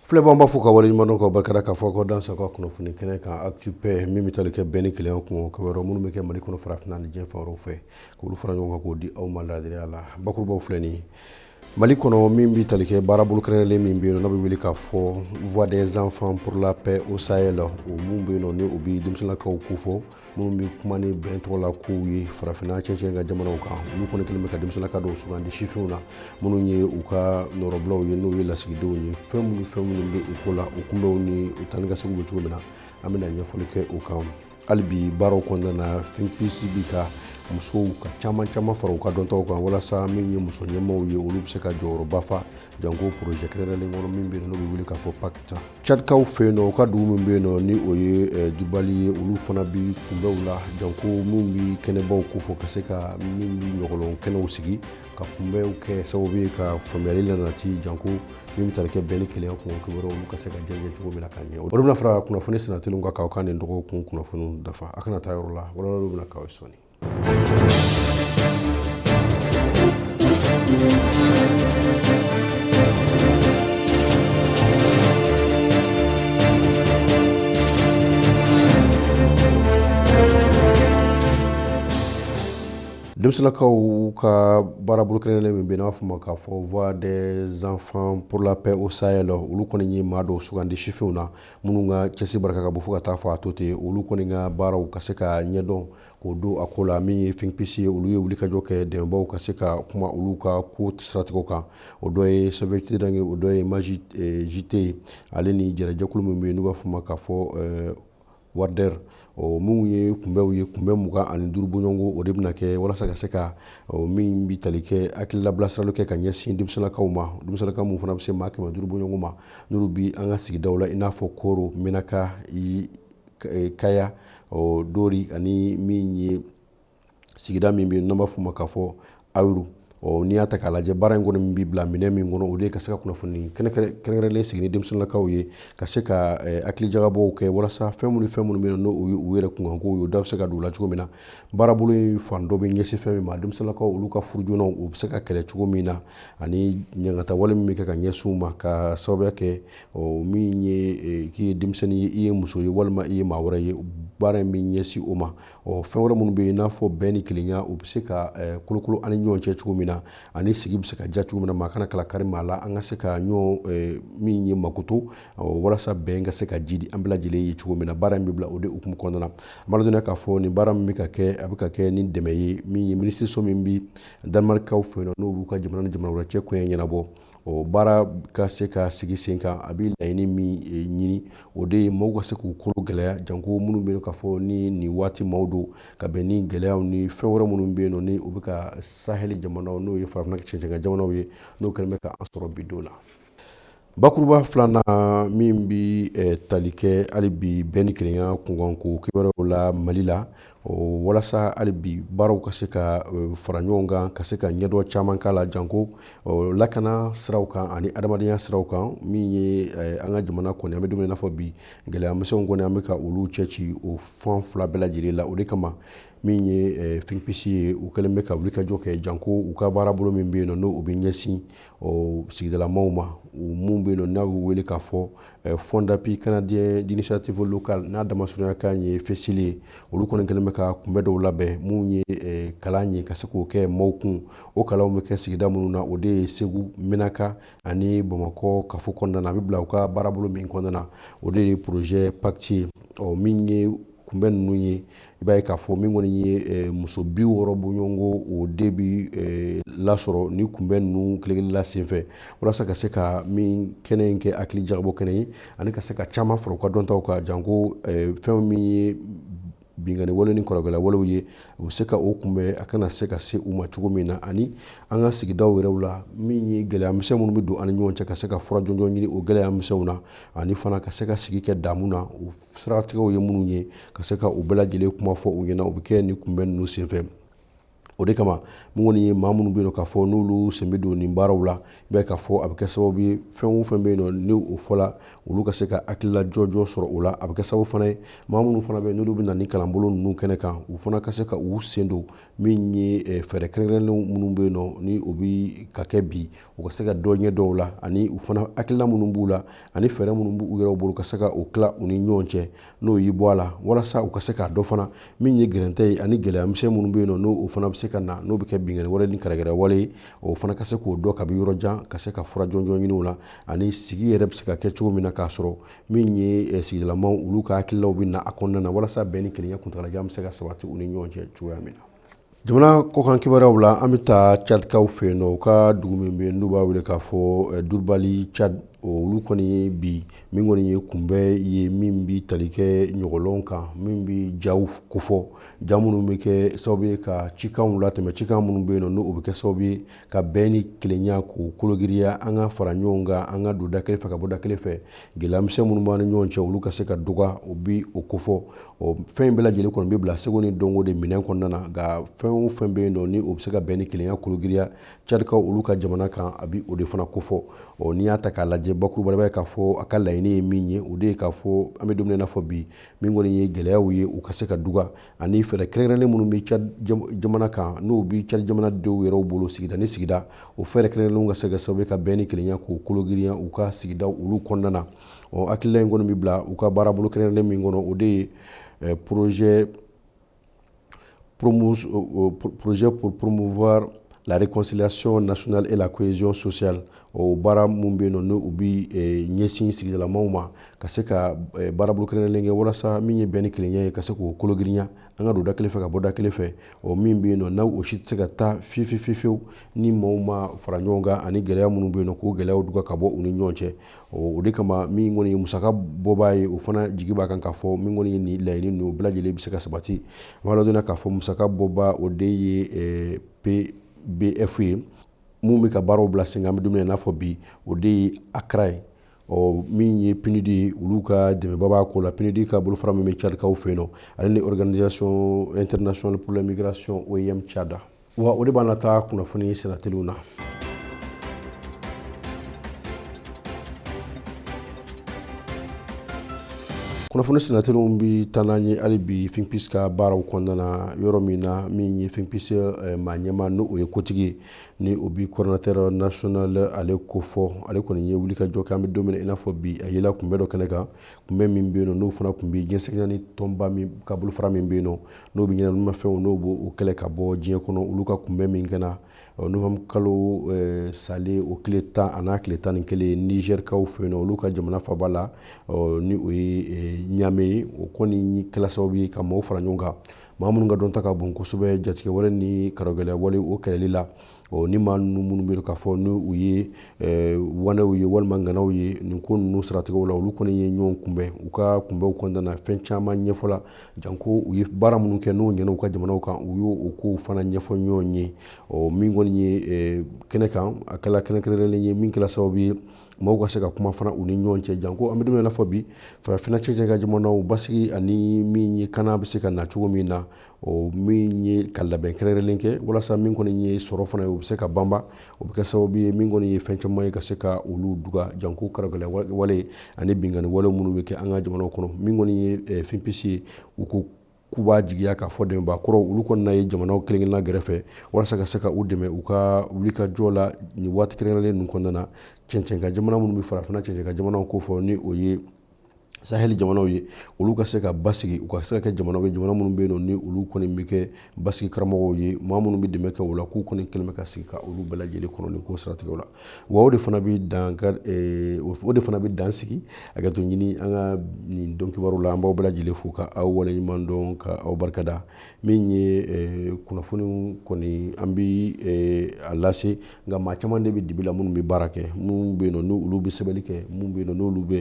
Filɛbagaw b'aw fo k'aw waleɲumandɔn k'aw barika da k'a fɔ k'aw dansɛ an ka kunnafoni kɛnɛ kan actu-paix min bɛ tali kɛ bɛn ni kelenya kun kibaruya minnu bɛ kɛ mali kɔnɔ farafinna ani diɲɛ fan wɛrɛw fɛ k'olu fara ɲɔgɔn kan k'o di aw ma laadiriya la bakurubaw filɛ nin mali kɔnɔ min bɛ tali kɛ baarabolo kɛrɛnkɛrɛnlen min bɛ yen n'a bɛ wele k'a fɔ voix des enfants pour la paix au Sahel o min bɛ yen nɔ ni o bɛ denmisɛnninlakaw ko fɔ minnu bɛ kuma ni bɛn tɔgɔ la kow ye farafinna cɛncɛn kan jamanaw kan olu kɔni kɛlen bɛ ka denmisɛnninlaka dɔw sugandi sifinw na minnu ye u ka nɔrɔbilaw ye n'o ye lasigidenw ye fɛn minnu fɛn minnu bɛ u ko la u kunbɛnw ni u taanikaseginw bɛ cogo min na an bɛna ɲɛfɔli kɛ o kan hali bi baaraw kɔnɔna na finpisi bi ka musow ka caman caman fara u ka dɔntaw kan walasa min ye muso ɲɛmaaw ye olu bɛ se ka jɔyɔrɔba fa Janko projet kɛrɛnkɛrɛnlen kɔnɔ min bɛ yen n'o bɛ wele k'a fɔ PACTA cadikaw fɛ yen nɔ u ka dugu min bɛ yen nɔ ni o ye dubali ye olu fana bɛ kunbɛnw la janko min bɛ kɛnɛbaw ko fɔ ka se ka min bɛ ɲɔgɔlɔn kɛnɛw sigi ka kunbɛnw kɛ sababu ye ka faamuyali nati janko min bɛ tali kɛ bɛn ni kelenya kun kibaruyaw olu ka se ka jɛnsɛn cogo min na ka ɲɛ o bɛna fara kunnafoni sennatelinw kan k'aw ka nin dɔgɔkun kunnafoni dafa a kana taa yɔrɔ la walawalaw bɛna k'aw ye sɔɔni Denmisɛnninlakaw ka baarabolo kɛrɛnkɛrɛnlen min bɛ n'an b'a f'a ma k'a fɔ voix des enfants pour la paix au Sahel olu kɔni ye maa dɔw sugandi sifinw na minnu ka cɛsiri barika ka bon fo ka taa fɔ a to ten olu kɔni ka baaraw ka se ka ɲɛdɔn k'o don a ko la min ye finpisi ye olu ye wulikajɔ kɛ dɛmɛbaw ka se ka kuma olu ka ko siratigɛw kan o dɔ ye Save the Children o dɔ ye MAEJT ye ale ni jɛnɛjɛkulu min bɛ yen n'u b'a fɔ ma k'a fɔ wari ɔ minnu ye kunbɛnw ye kunbɛn mugan ani duuru bɔɲɔgɔnko o de bɛna kɛ walasa ka se ka min bɛ tali kɛ hakilila bilasirali kɛ ka ɲɛsin denmisɛnninlakaw ma denmisɛnninlaka minnu fana bɛ se maa kɛmɛ duuru bɔɲɔgɔn ma n'olu bɛ an ka sigidaw la i n'a fɔ koro menaka eh, kaya ɔ dori ani min ye sigida min bɛ yen n'an b'a f'o ma k'a fɔ ayuru ɔ n'i y'a ta k'a lajɛ baara in kɔni min bɛ bila minɛn min kɔnɔ o de ye ka se ka kunnafoni kɛrɛnkɛrɛnlen sigi ni denmisɛnninlakaw ye ka se ka eh, hakilijagabɔw kɛ walasa fɛn minnu fɛn minnu bɛ yen n'o u yɛrɛ kunkanko ye o da bɛ se ka don u la cogo min na baarabolo in fan dɔ bɛ ɲɛsin fɛn min ma denmisɛnninlakaw olu ka furujoonaw u bɛ se ka kɛlɛ cogo min na ani ɲangatawale min bɛ kɛ ka ɲɛsin u ma k'a sababuya kɛ ɔ min ye k'i ye denmisɛnnin ye i ye muso ye walima i ye maa wɛrɛ ye baara in bɛ ɲɛsin o ma ɔ fɛn wɛrɛ minnu bɛ yen n'a fɔ bɛn ni kelenya u bɛ se ka kolokolo an ni ɲɔgɔn cɛ cogo min na ani sigi bɛ se ka diya cogo min na maa kana kala kari maa la an ka se ka ɲɔgɔn min ye makoto walasa bɛn ka se ka jidi an bɛɛ lajɛlen ye cogo min na baara in bɛ bila o de hukumu kɔnɔna na an b'a dɔn k'a fɔ nin baara min bɛ ka kɛ a bɛ ka kɛ ni dɛmɛ ye min ye minisiriso min bɛ danemarikaw fɛ yen n'o b'u ka jamana ni jamana wɛrɛ cɛ koɲɛ ɲɛnabɔ ɔ baara ka se ka sigi sen kan a bɛ laɲini min eh, ɲini o de ye maaw ka se k'u kolo gɛlɛya janko minnu bɛ yen nɔ k'a fɔ ni nin waati maaw don ka bɛn ni gɛlɛyaw ni fɛn wɛrɛ minnu bɛ yen nɔ ni o bɛ ka sahɛli jamanaw n'o ye farafinna cɛncɛnka jamanaw ye n'o kɛlen bɛ k'an sɔrɔ bi don na bakuruba filanan min bɛ eh, tali kɛ hali bi bɛn ni kelenya kunkanko kibaruyaw la mali la O walasa hali bi baaraw ka se ka fara ɲɔgɔn kan ka se ka ɲɛdɔn caman k'a la janko lakana siraw kan ani adamadenya siraw kan min ye an ka jamana kɔni an bɛ don min i n'a fɔ bi gɛlɛyamisɛnw kɔni an bɛ ka olu cɛci o fan fila bɛɛ lajɛlen la o de kama min ye Think Peace ye u kɛlen bɛ ka wulikajɔ kɛ janko u ka baarabolo min bɛ yen n' u bɛ ɲɛsin sigidalamaw ma minnu bɛ yen nɔ n'a bɛ wele k'a fɔ Fonds d'appui canadien d'initiative locale n'a damasurunya kan ye FCIL ye olu kɔni kɛlen bɛ ka kunbɛn dɔw labɛn minnu ye kalan ye ka se k'o kɛ maaw kun o kalanw bɛ kɛ sigida minnu na o de ye segu menaka ani bamakɔ kafo kɔnɔna na a bɛ bila u ka baarabolo min kɔnɔna na o de ye projet PACTE ye ɔ min ye kunbɛn ninnu ye i b'a ye k'a fɔ min kɔni ye eh, muso bi wɔɔrɔ bɔɲɔgɔnko o de bɛ eh, lasɔrɔ ni kunbɛn ninnu kelen-kelenna senfɛ walasa ka se ka nin kɛnɛ in kɛ hakili jagabɔ kɛnɛ ye ani ka se ka caman fara u ka dɔntaw kan janko eh, fɛn min ye binkanni wale ni kɔrɔgɛla walew ye u bɛ se ka o kunbɛn a kana se ka se u ma cogo min na ani an ka sigidaw yɛrɛw la min ye gɛlɛya misɛn minnu bɛ don an ni ɲɔgɔn cɛ ka se ka fura jɔnjɔn ɲini o gɛlɛya misɛnw na ani fana ka se ka sigi kɛ daamu na siratigɛw ye minnu ye ka se ka u bɛɛ lajɛlen kuma fɔ u ɲɛna u bɛ kɛ ni kunbɛn ninnu senfɛ o de kama min kɔni ye maa minnu bɛ yen nɔ k'a fɔ n'olu sen bɛ don nin baaraw la i b'a ye k'a fɔ a bɛ kɛ sababu ye fɛn o fɛn bɛ yen nɔ ni o fɔla olu ka se ka hakilila jɔnjɔn sɔrɔ o la a bɛ kɛ sababu fana ye maa minnu fana bɛ yen n'olu bɛ na ni kalanbolo ninnu kɛnɛ kan u fana ka se ka u sen don min ye eh, fɛɛrɛ kɛrɛnkɛrɛnnenw minnu bɛ yen nɔ ni o bɛ ka kɛ bi u ka se ka dɔ ɲɛdɔn o la ani u fana hakilina minnu b'u la ani fɛɛrɛ minnu b'u yɛrɛw bolo ka se ka o tila u ni ɲɔgɔn cɛ n'o y'i bɔ a la walasa u ka se k'a dɔn fana min ye gɛrɛntɛ ye ani gɛlɛyamisɛn minnu bɛ yen nɔ n'o fana bɛ se ka na n'o bɛ kɛ binkanni wale ni gɛrɛgɛrɛ wale ye o fana ka se k'o dɔn kabi yɔrɔ jan ka se ka fura jɔnjɔn ɲini o la ani sigi yɛrɛ bɛ se ka kɛ cogo min na k'a sɔrɔ min ye eh, sigidalamaw olu ka hakililaw bɛ na a kɔnɔna na walasa bɛn ni kelenya kuntagalajan bɛ se ka sabati u ni ɲɔgɔn cɛ cogoya min na Jamana kɔkan kibaruyaw la an bɛ taa cadikaw fɛ yen nɔ u ka dugu min bɛ yen n'u b'a wele k'a fɔ durubali cadi olu kɔni ye bi min kɔni ye kunbɛn ye min bɛ tali kɛ ɲɔgɔlɔn kan min bɛ jaw kofɔ ja minnu bɛ kɛ sababu ye ka cikanw latɛmɛ cikan minnu bɛ yen nɔ ni o bɛ kɛ sababu ye ka bɛn ni kelenya k'o kologiriya an ka fara ɲɔgɔn kan an ka don da kelen fɛ ka bɔ da kelen fɛ gɛlɛyamisɛn minnu b'an ni ɲɔgɔn cɛ olu ka se ka dɔgɔya o bi o kofɔ ɔ fɛn in bɛɛ lajɛlen kɔni bɛ bila seko ni dɔnko de minɛn kɔnɔna na nka fɛn o fɛn bɛ yen nɔ ni o bɛ se ka bɛn ni kelenya kologiriya Cadikaw olu ka jamana kan a bi o de fana kofɔ ɔ n'i y'a ta k'a lajɛ bakuruba la i b'a ye k'a fɔ a ka laɲini ye min ye o de ye k'a fɔ an bɛ don min na i n'a fɔ bi min kɔni ye gɛlɛyaw ye u ka se ka duga ani fɛɛrɛ kɛrɛnkɛrɛnnen minnu bɛ Tchad jamana kan n'o bɛ Tchad jamanadenw yɛrɛw bolo sigida ni sigida o fɛɛrɛ kɛrɛnkɛrɛnnenw ka se ka kɛ sababu ye ka bɛn ni kelenya k'o kologiriya u ka sigida olu kɔnɔna na ɔ hakilila in kɔni bɛ bila u ka baarabolo kɛrɛnkɛrɛnnen min kɔnɔ o de ye eh, projet promos, euh, euh, projet pour promouvoir la réconciliation nationale et la cohésion sociale o baara minnu bɛ yen nɔ n'u bɛ ɲɛsin sigidalamaw ma ka se ka baarabolo kɛrɛnkɛrɛnnen kɛ walasa min ye bɛn ni kelenya ye ka se k'o kologiriya an ka don da kelen fɛ ka bɔ da kelen fɛ o min bɛ yen nɔ n'aw o si tɛ se ka taa fiyewu ni maaw ma fara ɲɔgɔn kan ani gɛlɛya minnu bɛ yen nɔ k'o gɛlɛyaw duga ka bɔ u ni ɲɔgɔn cɛ o de kama min kɔni ye musaka bɔbaa ye o fana jigi b'a kan k'a fɔ min kɔni ye nin laɲini ninnu bɛɛ lajɛlen bɛ se ka sabati an b'a ladɔnniya k'a fɔ musaka bɔbaa o de ye PBF ye minnu bɛ ka baaraw bila sen kan an bɛ don min na i n'a fɔ bi o de ye ACRA ye ɔ min ye PNUD ye olu ka dɛmɛba b'a ko la PNUD ka bolofara min bɛ Cadikaw fɛ yen nɔ ale ni Organisation internationale pour la migration OIM Tchad wa o de b'an nataa kunnafoni sennateliw na kunnafoni sennateliw bɛ taa n'an ye hali bi finpis ka baaraw kɔnɔna na yɔrɔ min na min ye finpis eh, maa ɲɛmaa n'o ye kotigi ye ni o bi coordonnateur national ale kofɔ ale kɔni ye wuli ka jɔ kɛ an bɛ don min na i n'a fɔ bi a yela kunbɛn dɔ kɛnɛ kan kunbɛn min bɛ yen nɔ n'o fana tun bɛ diɲɛ seleke naani tɔnba min ka bolofara min bɛ yen nɔ n'o bɛ ɲɛnaminimafɛnw n'o b'o kɛlɛ ka bɔ diɲɛ kɔnɔ olu ka kunbɛn min kɛna novembre kalo salen o tile tan a n'a tile tan ni kelen nizɛrikaw fɛ yen nɔ olu ka jamana faaba la ni o ye ɲamɛ ye o kɔni kɛla sababu ye ka maaw fara ɲɔgɔn kan maa minnu ka dɔnta ka bon kosɛbɛ jatigɛwale ni karogɛlɛya wale o kɛlɛli la ni maa minnu bɛ k'a fɔ ni u ye waanew ye walima ŋanaw ye nin ko in siratigɛ la olu kɔni ye ɲɔgɔn kunbɛn u ka kunbɛn kɔnɔna na fɛn caman ɲɛfɔla janko u ye baara minnu kɛ n'o ɲɛna u ka jamanaw kan u y'o kow fana ɲɛfɔ ɲɔgɔn ye ɔ min kɔni ye eh, kɛnɛ kan a kɛla kɛnɛ kɛrɛnkɛrɛnlen ye min kɛla sababu ye maaw ka se ka kuma fana u ni ɲɔgɔn cɛ janko an bɛ don min na i n'a fɔ bi farafina cɛncɛn kan jamanaw basigi ani min ye kana bɛ se ka na cogo min na o min ye ka labɛn kɛrɛnkɛrɛnlen kɛ walasa min kɔni ye sɔrɔ fana ye u bɛ se ka banba o bɛ kɛ sababu ye min kɔni ye fɛn caman ye ka se ka olu duga janko karagɛlɛya wale ani binkanni wale minnu bɛ kɛ an ka jamana kɔnɔ min kɔni ye eh, finpisi ye u ko k'u b'a jigiya k'a fɔ dɛmɛba kɔrɔ olu kɔni na ye jamanaw kelenkelenna gɛrɛfɛ walasa ka se ka u dɛmɛ u ka wulikajɔ la nin waati kɛrɛnkɛrɛnlen ninnu kɔnɔna na cɛncɛnka jamana minnu bɛ farafin cɛncɛnka jamanaw ko fɔ ni o ye sahel jamanaw ye olu ka se ka basigi u ka se ka kɛ jamanaw ye jamana minnu bɛ yen nɔ ni olu kɔni bɛ kɛ basigi karamɔgɔw ye maa minnu bɛ dɛmɛ kɛ o la k'u kɔni kɛlen bɛ ka sigi ka olu bɛɛ lajɛlen kɔnɔ nin ko siratigɛw la wa o de fana bɛ dan eh, o de fana bɛ dan sigi a ka to ɲini an ka nin don kibaru la an b'aw bɛɛ lajɛlen fo ka aw waleɲuman dɔn ka aw barika da min ye eh, kunnafoniw kɔni an bɛ eh, a lase nka maa caman de bɛ dibi la minnu bɛ baara kɛ minnu bɛ yen n'olu bɛ sɛbɛnni kɛ minnu bɛ yen n'olu bɛ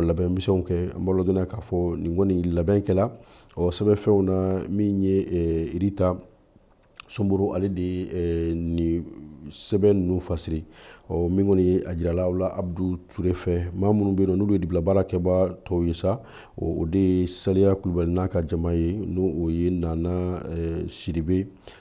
labɛn misɛnw kɛ an b'a ladɔnniya k'a fɔ nin kɔni labɛn kɛla ɔ sɛbɛnfɛnw na min ye irita somboro ale de ye nin sɛbɛn ninnu fasiri ɔ min kɔni ye a jirala la abudu ture fɛ maa minnu bɛ yen n'olu ye dibila baara kɛba tɔw ye sa o de ye saliya kulubali n'a ka jama ye n'o ye nana sidibe